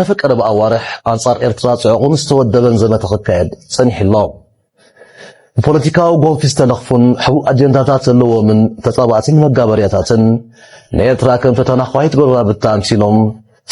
ኣብ ቀረባ ኣዋርሕ ኣንጻር ኤርትራ ጽዑቕን ዝተወደበን ዘመተ ክካየድ ጸኒሑ ኣሎ። ብፖለቲካዊ ጎንፊ ዝተለኽፉን ሕቡእ ኣጀንዳታት ዘለዎምን ተጻባእትን መጋበርያታትን ንኤርትራ ከም ፈተና ኳይት ጎረባብታ ኣምሲሎም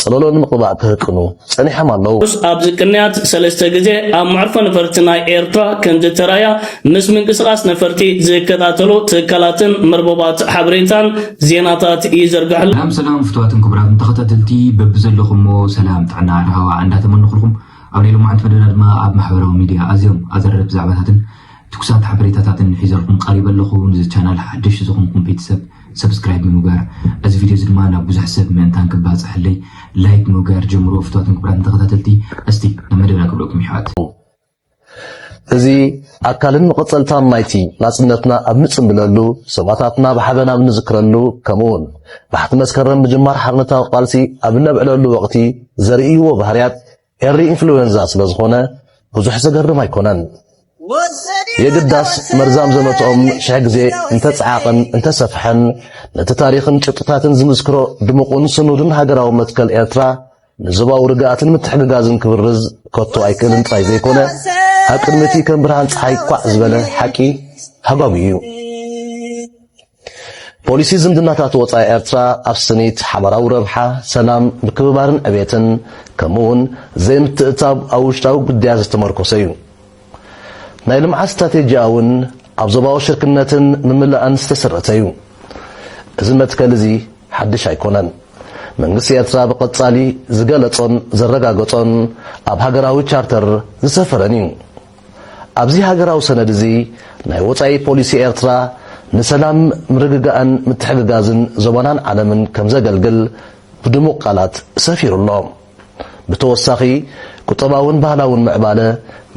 ጸለሎ ንምቕባእ ክህቅኑ ጸኒሖም ኣለዉ። ኣብዚ ቅንያት ሰለስተ ግዜ ኣብ መዕርፎ ነፈርቲ ናይ ኤርትራ ከምዝተራእያ ምስ ምንቅስቓስ ነፈርቲ ዝከታተሉ ትካላትን መርበባት ሓበሬታን ዜናታት ይዘርግሕሉ። ሰላም ሰላም ፍትዋትን ክቡራትን ተኸታተልቲ በብዘለኹሞ ሰላም ጥዕና ራህዋ እንዳተመነኹልኩም ኣብ ናይ ሎማዓንቲ መደብና ድማ ኣብ ማሕበራዊ ሚድያ ኣዝዮም ኣዘረርቲ ዛዕባታትን ትኩሳት ሓበሬታታትን ሒዘልኩም ቀሪበ ኣለኹ ንዚ ቻናል ሓድሽ ዝኾንኩም ቤተሰብ ሰብስክራይብ ብምግባር እዚ ቪድዮ እዚ ድማ ናብ ብዙሕ ሰብ ምእንታን ክባፅሐለይ ላይክ ምግባር ጀምሮ ፍትዋትን ክብራትን ተኸታተልቲ እስቲ ናብ መደብና ክብለኩም ይሕዋት እዚ ኣካልን መቐጸልታን ናይቲ ናጽነትና ኣብ ንጽምብለሉ፣ ሰማእታትና ብሓበን ኣብ ንዝክረሉ፣ ከምኡውን ባሕቲ መስከረም ምጅማር ሓርነታዊ ቃልሲ ኣብ እነብዕለሉ ወቕቲ ዘርእይዎ ባህርያት ኤሪ ኢንፍሉዌንዛ ስለ ዝኾነ ብዙሕ ዘገርም ኣይኮነን። የግዳስ መርዛም ዘመትኦም ሽሕ ግዜ እንተጸዓቐን እንተሰፍሐን ነቲ ታሪኽን ጭብጥታትን ዝምስክሮ ድሙቕን ስኑድን ሃገራዊ መትከል ኤርትራ ንዞባዊ ርግኣትን ምትሕግጋዝን ክብርዝ ከቶ ኣይክእልን ጥራይ ዘይኮነ ኣብ ቅድሚ እቲ ከም ብርሃን ፀሓይ ኳዕ ዝበለ ሓቂ ሃጓጉ እዩ። ፖሊሲ ዝምድናታት ወፃኢ ኤርትራ ኣብ ስኒት ሓባራዊ ረብሓ፣ ሰላም፣ ምክብባርን ዕቤትን ከምኡውን ዘይምትእትታው ኣብ ውሽጣዊ ጉዳያት ዝተመርኮሰ እዩ። ናይ ልምዓት ስትራቴጂኣ እውን ኣብ ዞባዊ ሽርክነትን ምምላእን ዝተሰረተ እዩ። እዚ መትከል እዚ ሓድሽ ኣይኮነን። መንግስቲ ኤርትራ ብቐጻሊ ዝገለጾን ዘረጋገጾን ኣብ ሃገራዊ ቻርተር ዝሰፈረን እዩ። ኣብዚ ሃገራዊ ሰነድ እዚ ናይ ወጻኢ ፖሊሲ ኤርትራ ንሰላም፣ ምርግጋእን ምትሕግጋዝን ዞባናን ዓለምን ከምዘገልግል ብድሙቕ ቃላት ሰፊሩ ኣሎ። ብተወሳኺ ቁጠባውን ባህላውን ምዕባለ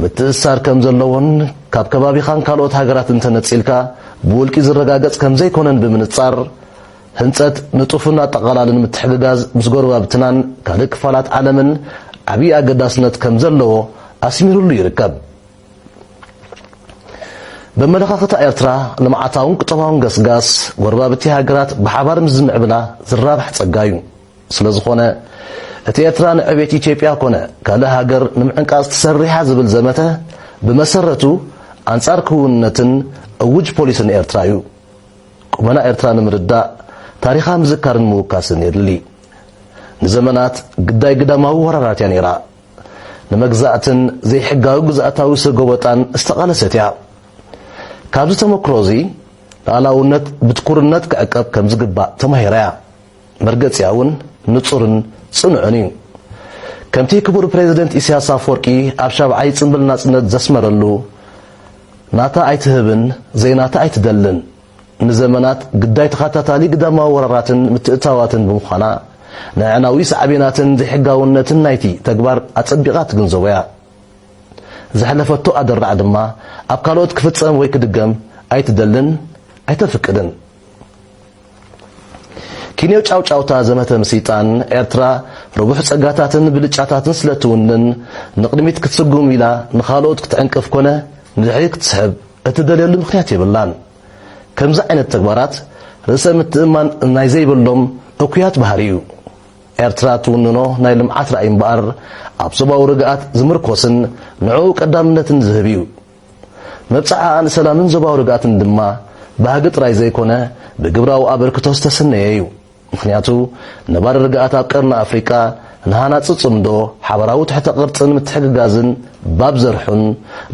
ምትእስሳር ከም ዘለዎን ካብ ከባቢኻን ካልኦት ሃገራትን ተነጺልካ ብውልቂ ዝረጋገጽ ከም ዘይኮነን ብምንጻር፣ ህንጸት ንጡፍን ኣጠቓላልን ምትሕግጋዝ ምስ ጎረባብትናን ካልእ ክፋላት ዓለምን ዓብዪ ኣገዳስነት ከም ዘለዎ ኣስሚርሉ ይርከብ። በመለኻኽታ ኤርትራ ልምዓታውን ቁጠባውን ገስጋስ ጎረባብቲ ሃገራት ብሓባር ምስ ዝምዕብላ ዝራባሕ ጸጋ እዩ። ስለዝኾነ እቲ ኤርትራ ንዕቤት ኢትዮጵያ ኮነ ካልእ ሃገር ንምዕንቃጽ ትሰርሕ'ያ ዝብል ዘመተ ብመሰረቱ ኣንጻር ክውንነትን እውጅ ፖሊስን ኤርትራ'ዩ። ቁመና ኤርትራ ንምርዳእ ታሪኻ ምዝካርን ምውካስን የድሊ። ንዘመናት ግዳይ ግዳማዊ ወራራት'ያ ነይራ። ንመግዛእትን ዘይሕጋዊ ግዝኣታዊ ሰጎበጣን ዝተቓለሰት'ያ። ካብዚ ተመክሮ'ዚ ልኣላውነት ብትኩርነት ክዕቀብ ከምዝግባእ ተማሂራ'ያ። መርገጺኣ እውን ንጹርን ጽኑዕን እዩ። ከምቲ ክቡር ፕረዚደንት ኢሳያስ ኣፍወርቂ ኣብ ሻብዓይ ጽምብል ናጽነት ዘስመረሉ፣ ናታ ኣይትህብን፣ ዘይናታ ኣይትደልን፣ ንዘመናት ግዳይ ተኸታታሊ ግዳማዊ ወራራትን ምትእትታዋትን ብምዃና፣ ንኣዕናዊ ሳዕቤናትን ዘይሕጋውነትን ናይቲ ተግባር ኣጸቢቓ ትግንዘቦ እያ። ዘሕለፈቶ ኣደራዕ ድማ ኣብ ካልኦት ክፍጸም ወይ ክድገም ኣይትደልን ኣይተፍቅድን። ኪንዮ ጫውጫውታ ዘመተ ምስይጣን ኤርትራ ርቡሕ ጸጋታትን ብልጫታትን ስለ እትውንን፣ ንቕድሚት ክትስጉም ኢላ ንኻልኦት ክትዕንቅፍ ኮነ ንድሕሪት ክትስሕብ እትደልየሉ ምኽንያት የብላን። ከምዚ ዓይነት ተግባራት ርእሰ ምትእምማን ናይ ዘይብሎም እኩያት ባህሪ እዩ። ኤርትራ እትውንኖ ናይ ልምዓት ራእይ እምበኣር ኣብ ዞባዊ ርግኣት ዝምርኮስን ንዕኡ ቀዳምነትን ዝህብ እዩ። መብጽዓኣ ንሰላምን ዞባዊ ርግኣትን ድማ ባህጊ ጥራይ ዘይኮነ ብግብራዊ ኣበርክቶ ዝተሰነየ እዩ። ምኽንያቱ ነባሪ ርግኣት ኣብ ቀርኒ ኣፍሪቃ ንሃናጺ ጽምዶ፣ ሓባራዊ ትሕተ ቅርጽን ምትሕግጋዝን ባብ ዘርሑን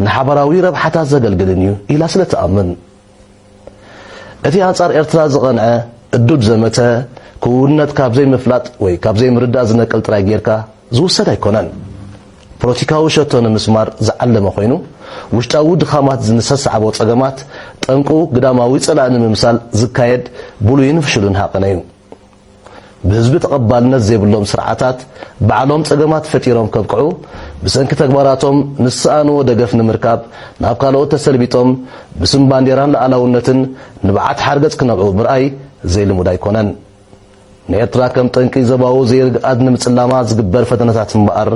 ንሓባራዊ ረብሓታት ዘገልግልን እዩ ኢላ ስለትኣምን። እቲ ኣንጻር ኤርትራ ዝቐንዐ እዱድ ዘመተ ክውንነት ካብ ዘይምፍላጥ ወይ ካብ ዘይምርዳእ ዝነቅል ጥራይ ጌርካ ዝውሰድ ኣይኮነን። ፖለቲካዊ ሸቶ ንምስማር ዝዓለመ ኮይኑ፣ ውሽጣዊ ድኻማት ዝንሰስዓቦ ጸገማት ጠንቁ ግዳማዊ ጸላኢ ንምምሳል ዝካየድ ብሉይን ፍሹልን ሃቐነ'ዩ። ብህዝቢ ተቐባልነት ዘይብሎም ስርዓታት ባዕሎም ጸገማት ፈጢሮም ከብቅዑ፣ ብሰንኪ ተግባራቶም ንዝሰኣንዎ ደገፍ ንምርካብ ናብ ካልኦት ተሰልቢጦም ብስም ባንዴራን ልኣላውነትን ንብዓት ሓርገጽ ክነብዑ ምርኣይ ዘይልሙድ ኣይኮነን። ንኤርትራ ከም ጠንቂ ዞባዊ ዘይርግኣት ንምጽላማ ዝግበር ፈተነታት እምበኣር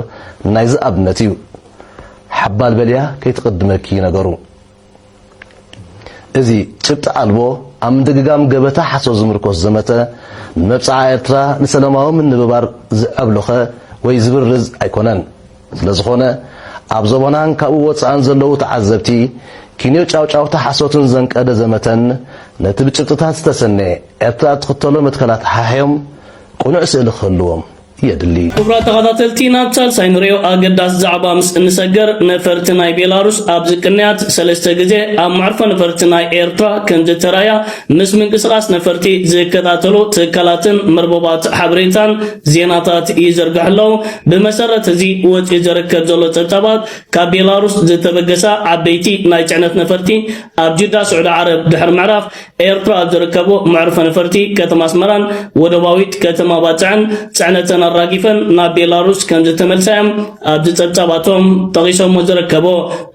ናይዚ ኣብነት እዩ። ሓባል በልያ ከይትቕድመኪ እዩ ነገሩ። እዚ ጭብጢ ኣልቦ ኣብ ምድግጋም ገበታ ሓሶት ዝምርኮስ ዘመተ ንመብጽዓ ኤርትራ ንሰለማዊ ምንብባር ዝዐብሎኸ ወይ ዝብርዝ ኣይኮነን። ስለዝኾነ ኣብ ዞባናን ካብኡ ወጻእን ዘለዉ ተዓዘብቲ ኪንዮ ጫውጫውታ ሓሶትን ዘንቀደ ዘመተን ነቲ ብጭብጥታት ዝተሰነየ ኤርትራ እትኽተሎ መትከላት ሓሕዮም ቅኑዕ ስእሊ ክህልዎም የድሊ። ክቡራት ተኻታተልቲ ናብ ሳልሳይ ንሪኦ ኣገዳሲ ዛዕባ ምስ እንሰገር ነፈርቲ ናይ ቤላሩስ ኣብዚ ቅንያት ሰለስተ ግዜ ኣብ መዕርፎ ነፈርቲ ናይ ኤርትራ ከምዝተራእያ ምስ ምንቅስቓስ ነፈርቲ ዝከታተሉ ትካላትን መርበባት ሓበሬታን ዜናታት ይዝርግሑ ኣለዉ። ብመሰረት እዚ ወጺኡ ዘርከብ ዘሎ ጸብጻባት ካብ ቤላሩስ ዝተበገሳ ዓበይቲ ናይ ጽዕነት ነፈርቲ ኣብ ጅዳ ስዑዲ ዓረብ ድሕሪ ምዕራፍ ኤርትራ ኣብ ዝርከቡ መዕርፎ ነፈርቲ ከተማ ኣስመራን ወደባዊት ከተማ ባጽዕን ጽዕነተን ኣራጊፈን ናብ ቤላሩስ ከም ዝተመልሳ እዮም ኣብዚ ጸብጻባቶም ጠቒሶሞ ዝርከቦ።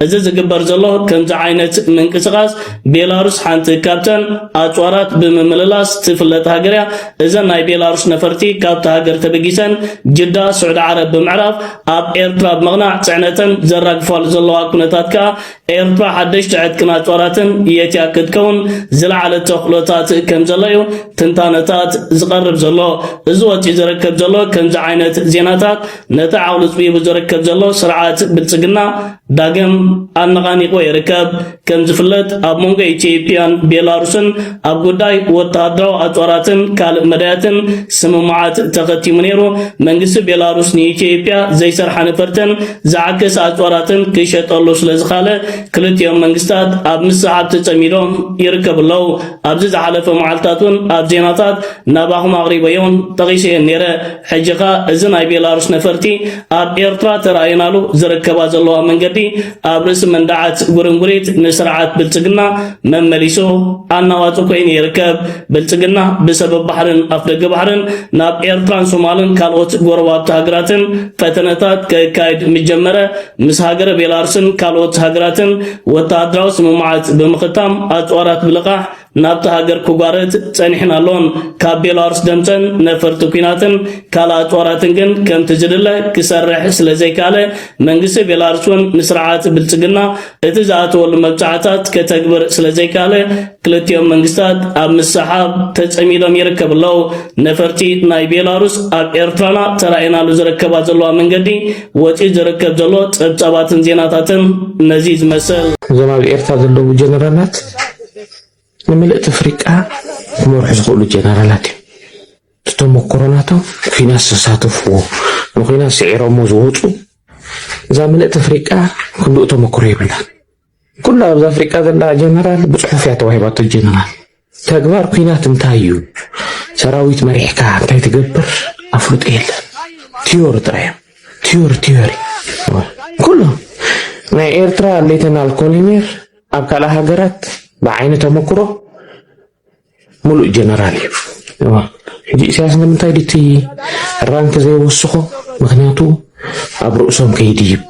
እዚ ዝግበር ዘሎ ከምዚ ዓይነት ምንቅስቓስ ቤላሩስ ሓንቲ ካብተን ኣጽዋራት ብምምልላስ ትፍለጥ ሃገር እያ። እዘን ናይ ቤላሩስ ነፈርቲ ካብቲ ሃገር ተበጊሰን ጅዳ ስዑዲ ዓረብ ብምዕራፍ ኣብ ኤርትራ ብምቕናዕ ጽዕነተን ዘራግፋሉ ዘለዋ ኩነታት ከኣ ኤርትራ ሓደሽቲ ዕጥቅን ኣጽዋራትን የትያ ክትከውን ዝለዓለ ተኽእሎታት ከም ዘሎ እዩ ትንታነታት ዝቐርብ ዘሎ። እዚ ወጺኡ ዝርከብ ዘሎ ከምዚ ዓይነት ዜናታት ነቲ ዓቕሉ ጽቢቡ ዝርከብ ዘሎ ስርዓት ብልጽግና ዳግም ኣነቓኒቕዎ ይርከብ። ከም ዝፍለጥ ኣብ መንጎ ኢትዮጵያን ቤላሩስን ኣብ ጉዳይ ወተሃደራዊ ኣጽዋራትን ካልእ መዳያትን ስምምዓት ተኸቲሙ ነይሩ። መንግስቲ ቤላሩስ ንኢትዮጵያ ዘይሰርሓ ነፈርትን ዝዓከሰ ኣጽዋራትን ክሸጠሉ ስለ ዝኻለ ክልቲኦም መንግስታት ኣብ ምስዓብ ተጸሚዶም ይርከቡ ኣለዉ። ኣብዚ ዝሓለፈ መዓልትታት እውን ኣብ ዜናታት ናባኹም ኣቕሪበዮን ጠቒሰዮን ነይረ። ሕጂ ከኣ እዚ ናይ ቤላሩስ ነፈርቲ ኣብ ኤርትራ ተራእየናሉ ዝርከባ ዘለዋ መንገዲ ኣብ ርእሲ መንዳዓት ጉርንጉሪት ንስርዓት ብልጽግና መመሊሱ ኣናዋጽ ኮይኑ ይርከብ። ብልጽግና ብሰበብ ባሕርን ኣፍደገ ባሕርን ናብ ኤርትራን ሶማልን ካልኦት ጎረባብቲ ሃገራትን ፈተነታት ከካይድ ምጀመረ ምስ ሃገረ ቤላርስን ካልኦት ሃገራትን ወተሃደራዊ ስምምዓት ብምኽታም ኣጽዋራት ብልቓሕ ናብታ ሃገር ክጓረት ጸኒሕን ኣሎን። ካብ ቤላሩስ ደምጸን ነፈርቲ ኩናትን ካልኣት ጦራትን ግን ከምቲ ዝድለ ክሰርሕ ስለ ዘይከኣለ መንግስቲ ቤላሩስ እውን ንስርዓት ብልጽግና እቲ ዝኣተወሉ መብጻዕታት ከተግብር ስለ ዘይከኣለ ክልቲኦም መንግስታት ኣብ ምሰሓብ ተጸሚዶም ይርከብ ኣለዉ። ነፈርቲ ናይ ቤላሩስ ኣብ ኤርትራና ተራእየናሉ ዝረከባ ዘለዋ መንገዲ ወጺኡ ዝርከብ ዘሎ ጸብጻባትን ዜናታትን ነዚ ዝመስል። እዞም ኣብ ኤርትራ ዘለዉ ጀነራላት ንምልእቲ ኣፍሪቃ ክመርሑ ዝኽእሉ ጀነራላት እዮም። እቲ ተመክሮ ናቶም ኩናት ዝተሳተፍዎ ንኩናት ስዒሮሞ ዝወፁ እዛ ምልእቲ ኣፍሪቃ ክልኡ ተመክሮ የብላን። ኩላ ኣብዚ ኣፍሪቃ ዘላ ጀነራል ብፅሑፍ እያ ተዋሂባቶ ጀነራል ተግባር ኩናት እንታይ እዩ ሰራዊት መሪሕካ እንታይ ትገብር ኣፍልጦ የለን ቲዮሪ ጥራይ እዮም ቲዮሪ ቲዮሪ ኩሎም ናይ ኤርትራ ሌተናል ኮሎኔል ኣብ ካልእ ሃገራት ብዓይኒ ተመክሮ ሙሉእ ጀነራል እዩ። ሕጂ ኢሳያስ ንምንታይ ድቲ ራንክ ዘይወስኾ? ምክንያቱ ኣብ ርእሶም ከይድይብ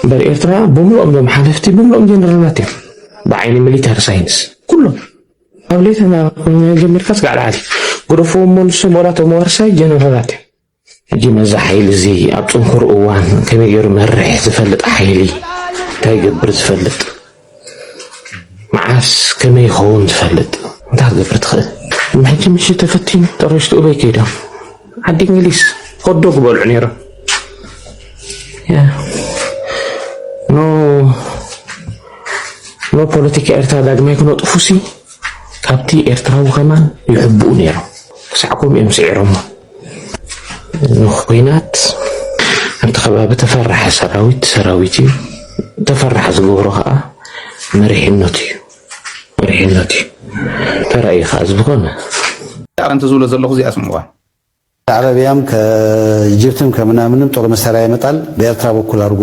እምበር ኤርትራ ብምሉኦም ዞም ሓለፍቲ ብምሉኦም ጀነራላት እዮም ብዓይኒ ሚሊታሪ ሳይንስ ኩሎም ኣብ ሌተና ጀሚርካ ስጋዕ ላዓሊ ግደፍዎም መልሶም ወላ ተመዋርሳይ ጀነራላት እዮም ሕጂ ነዚ ሓይሊ እዚ ኣብ ጽንኩር እዋን ከመይ ገይሩ መርሕ ዝፈልጥ ሓይሊ እንታይ ይገብር ዝፈልጥ መዓስ ከመይ ይኸውን ዝፈልጥ እንታይ ክገብር ትኽእል ሕጂ ምሽ ተፈቲኑ ጠረሽቲ እበይ ከይዶም ዓዲ እንግሊዝ ሆዶ ክበልዑ ነይሮም ኖ ኖ ፖለቲካ ኤርትራ ዳግማይ ክነጥፉሲ ካብቲ ኤርትራዊ ከማን ይሕብኡ ነይሮም ክሳዕ ከምኡ እዮም ስዒሮሞ ንኩናት ኣብቲ ከባቢ ተፈራሒ ሰራዊት ሰራዊት እዩ ተፈራሒ ዝገብሮ ከኣ መሪሕነቱ እዩ መሪሕነቱ እዩ ተራእዩ ከኣ እዚ ብኮነ ዳዕረ እንተዝብሎ ዘለኹ እዚኣ ስምዑዋ። ከዕረብያም ከጅብትም ከምናምንም ጦር መሳርያ ይመጣል ብኤርትራ በኩል ኣድርጎ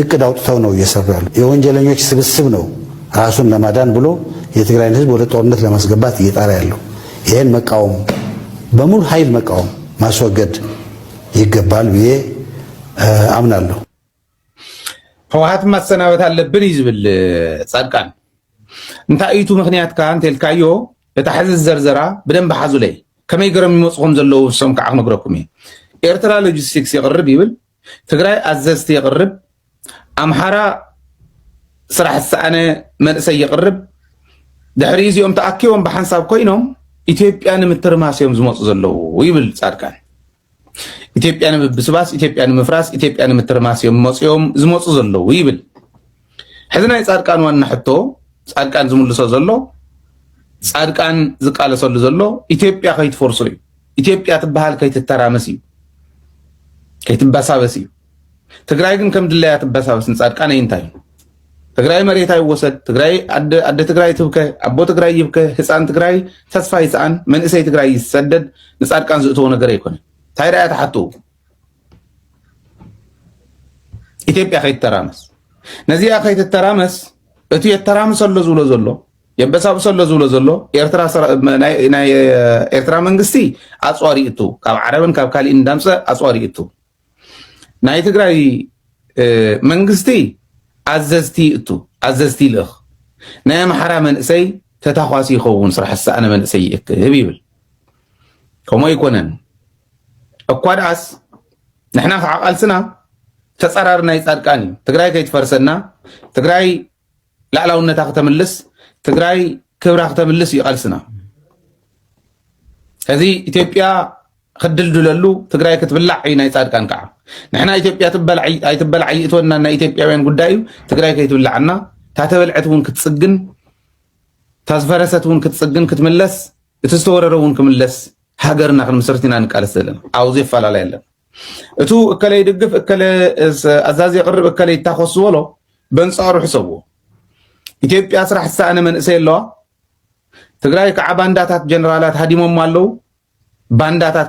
እቅድ ኣውጥተው ነው እየሰሩ ያሉ የወንጀለኞች ስብስብ ነው ራሱን ለማዳን ብሎ የትግራይን ህዝብ ወደ ጦርነት ለማስገባት እየጣረ ያለው ይህን መቃወም በሙሉ ሀይል መቃወም ማስወገድ ይገባል ብዬ አምናለሁ። ህወሓት ማሰናበት ኣለብን እዩ ዝብል ፃድቃን እንታይ እዩ እቲ ምክንያትካ እንተልካዮ እታ ሕዚ ዝዘርዘራ ብደንብ ሓዙለይ ከመይ ገሮም ይመፁ ከም ዘለዉ ንሶም ከዓ ክነግረኩም እዩ ኤርትራ ሎጂስቲክስ የቕርብ ይብል ትግራይ ኣዘዝቲ የቕርብ፣ ኣምሓራ ስራሕ ዝሰኣነ መንእሰይ የቕርብ፣ ድሕሪ እዚኦም ተኣኪቦም ብሓንሳብ ኮይኖም ኢትዮጵያ ንምትርማስ እዮም ዝመፁ ዘለዉ ይብል ፃድቃን። ኢትዮጵያ ንምብስባስ፣ ኢትዮጵያ ንምፍራስ፣ ኢትዮጵያ ንምትርማስ እዮም መፅኦም ዝመፁ ዘለዉ ይብል። ሕዚ ናይ ፃድቃን ዋና ሕቶ ፃድቃን ዝምልሶ ዘሎ ፃድቃን ዝቃለሰሉ ዘሎ ኢትዮጵያ ከይትፈርሶ እዩ። ኢትዮጵያ ትበሃል ከይትተራመስ እዩ፣ ከይትበሳበስ እዩ። ትግራይ ግን ከም ድላያ ትበሳበስ ንፃድቃን እንታይ እዩ? ትግራይ መሬት ኣይወሰድ፣ ትግራይ ኣደ ትግራይ ትብከ፣ ኣቦ ትግራይ ይብከ፣ ህፃን ትግራይ ተስፋ ይስኣን፣ መንእሰይ ትግራይ ይሰደድ፣ ንፃድቃን ዝእተዎ ነገር ኣይኮነ። እንታይ ዳያ ትሓትኡ? ኢትዮጵያ ከይተራመስ ነዚኣ ከይትተራመስ እቲ የተራምሰ ኣሎ ዝብሎ ዘሎ የበሳብሶ ኣሎ ዝብሎ ዘሎ ናይ ኤርትራ መንግስቲ ኣፅዋሪ እቱ ካብ ዓረብን ካብ ካሊእ እንዳምፀ ኣፅዋሪ እቱ ናይ ትግራይ መንግስቲ ኣዘዝቲ እቱ ኣዘዝቲ ይልእኽ ናይ ኣምሓራ መንእሰይ ተታኳሲ ይኸውን ስራሕ ዝሰኣነ መንእሰይ ይእክብ ይብል ከምኡ ኣይኮነን እኳ ደኣስ ንሕና ከዓ ቃልስና ተፃራሪ ናይ ፃድቃን እዩ ትግራይ ከይትፈርሰና ትግራይ ላዕላውነታ ክተምልስ ትግራይ ክብራ ክተምልስ እዩ ቃልስና እዚ ኢትዮጵያ ክድልድለሉ ትግራይ ክትብላዕ እዩ ናይ ፃድቃን ከዓ ንሕና ኢትዮጵያ ትበላዕ ኣይትበላዕ ይእትወና ናይ ኢትዮጵያውያን ጉዳይ እዩ ትግራይ ከይትብላዕና እታ ተበልዐት እውን ክትፅግን እታ ዝፈረሰት እውን ክትፅግን ክትምለስ እቲ ዝተወረረ እውን ክምለስ ሃገርና ክንምስርት ኢና ንቃለስ ዘለና ኣብዚ ኣፈላላይ ኣለና እቱ እከለ ይድግፍ እከለ ኣዛዚ የቅርብ እከለ ይታኮስ ዝበሎ በንፃሩ ሕሰብዎ ኢትዮጵያ ስራሕ ዝሰኣነ መንእሰይ ኣለዋ ትግራይ ከዓ ባንዳታት ጀነራላት ሃዲሞም ኣለው ባንዳታት